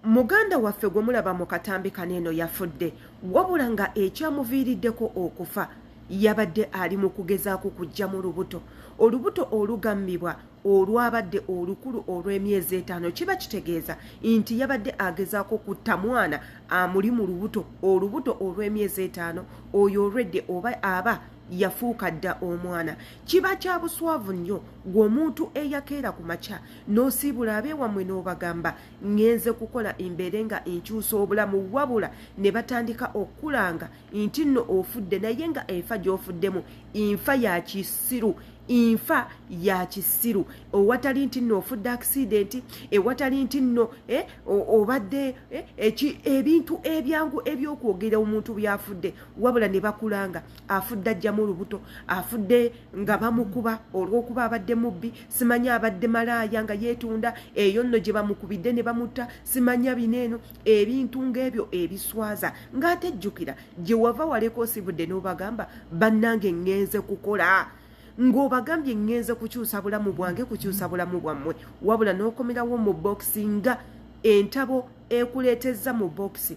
Muganda waffe gwe mulaba mu katambi kano eno yafudde wabula nga ekyamuviiriddeko okufa yabadde ali mu kugezaako kujja mu lubuto olubuto olugammibwa olwabadde olukulu olw'emyezi etaano kiba kitegeeza nti yabadde agezaako kutta mwana amuli mu lubuto olubuto olw'emyezi etaano oyo olwedde oba aba yafuuka dda omwana kiba kya buswavu nnyo gweomuntu eyakeera ku makya n'osiibula abeewammwe n'obagamba ngenze kukola mbeere nga nkyusa obulamu wabula ne batandika okukulanga nti nno ofudde naye nga enfa gy'ofuddemu nfa ya kisiru nfa ya kisiru owatali nti nno ofudde akisidenti ewatali nti nno eh, obadde eh, ebintu ebyangu ebyokwogera omuntu byafudde wabula ne bakulanga afudde ajjamu olubuto afudde nga bamukuba olwokuba abadde mubbi simanyi abadde malaaya nga yeetunda eyo nno gye bamukubidde ne bamutta simanya bino eno ebintu ng'ebyo ebiswaza ng'ate jjukira gye wava waleka osibudde n'obagamba bannange ŋŋenze kukola ng'obagambye ŋŋenze kukyusa bulamu bwange kukyusa bulamu bwammwe wabula n'okomerawo mu bokisi nga entabo ekuleetezza mu bokisi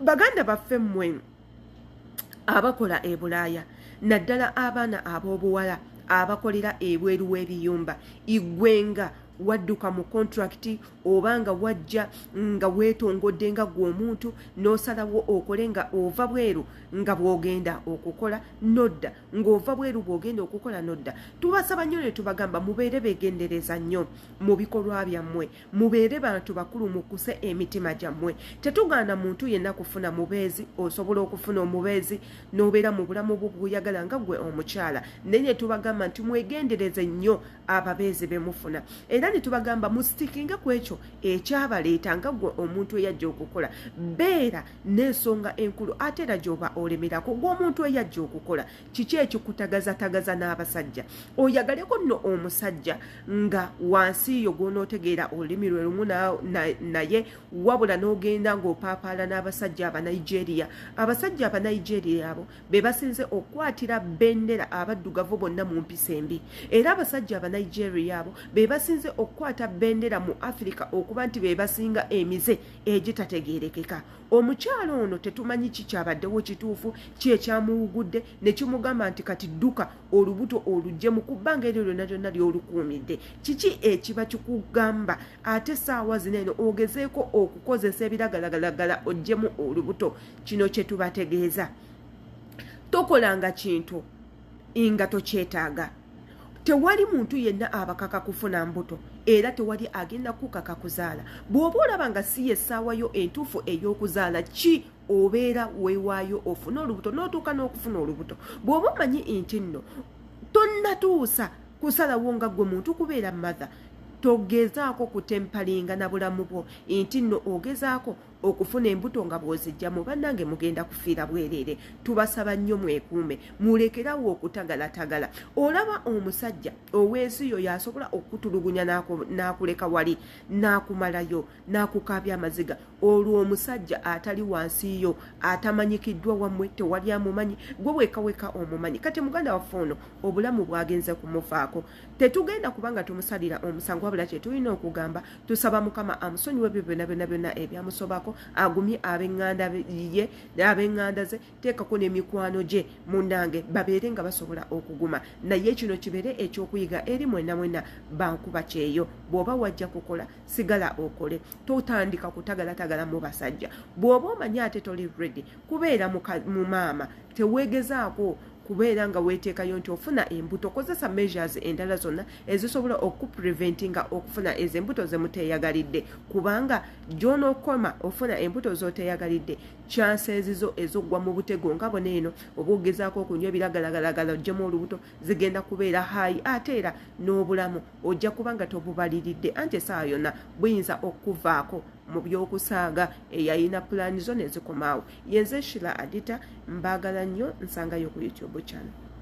baganda baffe mmwe abakola e bulaaya naddala abaana ab'obuwala abakolera ebweru w'ebiyumba igwenga wadduka mu kontrakiti oba nga wajja nga weetongodde nga gwe omuntu n'osalawo okole nga ova bweru nga bw'ogenda okukola nodda ng'ova bweru bw'ogenda okukola nodda tubasaba nnyo ne tubagamba mubeere beegendereza nnyo mu bikolwa byammwe mubeere bantu bakulu mukuse emitima gyammwe tetugaana muntu yenna kufuna mubeezi osobola okufuna omubeezi n'obeera mu bulamu bwo bwoyagala nga gwe omukyala naye ne tubagamba nti mwegendereze nnyo ababeezi be mufuna era ne tubagamba musitikinge ku ekyo ekyabaleeta nga gwe omuntu eyajja okukola beera n'ensonga enkulu ate era gy'oba olemerako gw'omuntu eyajja okukola kiki ekikutagazatagaza n'abasajja oyagaleko nno omusajja nga wansi yo gwonootegeera olulimi lwe lumu naye wabula n'ogenda ng'opaapaala n'abasajja abanigeria abasajja abanigeria abo be basinze okukwatira bendera abaddugavu bonna mu mpisa embi era abasajja abanigeria abo be basinze okukwata bendera mu afirika okuba nti be basinga emize egitategeerekeka omukyala ono tetumanyi ki kyabaddewo kituufu ki ekyamuwugudde ne kimugamba nti kati dduka olubuto olugyemu ku bbanga eryo lyonna lyonna lyolukuumidde kiki ekiba kikugamba ate saawa zino eno ogezeeko okukozesa ebiragalagalagala ogyemu olubuto kino kye tubategeeza tokolanga kintu nga tokyetaaga tewali muntu yenna abakaka kufuna mbuto era tewali agenda kukaka kuzaala bw'oba olaba nga si yessaawa yo entuufu ey'okuzaala ki obeera weewaayo ofune olubuto n'otuuka n'okufuna olubuto bw'oba omanyi nti nno tonnatuusa kusalawo nga gwe muntu kubeera matha togezaako kutempalinga na bulamu bwo nti nno ogezaako okufuna embuto nga bwozijjamu bannange mugenda kufiira bwereere tubasaba nnyo mwekuume mulekerawo okutagalatagala olaba omusajja owensi yo yasobola okukutulugunya n'akuleka wali n'akumalayo n'akukaabya amaziga olwo omusajja atali wansi yo atamanyikiddwa wammwe tewali amumanyi gwe wekaweka omumanyi kati muganda waffe ono obulamu bwagenze kumufaako tetugenda kubanga tumusalira omusango wabula kyetulina okugamba tusaba mukama amusonyiwe ebyo byona byona byona ebyamusobako agumye abenganda ye abenganda ze teekako nemikwano gye munange babeere nga basobola okuguma naye kino kibeere ekyokuyiga eri mwena mwena bankuba kyeyo bwoba wajja kukola sigala okole totandika kutagalatagala mu basajja bwoba omanye ate toli redi kubeera mu maama teweegezaako kubeera nga weeteekayo nti ofuna embuto kozesa measures endala zonna ezisobola okupreventinga okufuna ezo embuto zemuteeyagalidde kubanga gyonokoma ofuna embuto zoteeyagalidde kyansenzizo ezoggwa mu butego nga bona eno oba ogezaako okunywa ebiragalagalagala ojjemu olubuto zigenda kubeera haayi ate era n'obulamu ojja kuba nga tobubaliridde anti esaawa yonna buyinza okuvaako mu by'okusaaga eyayina pulaani zo nezikomaawo yenze shila adita mbaagala nnyo nsangayo ku youtube channel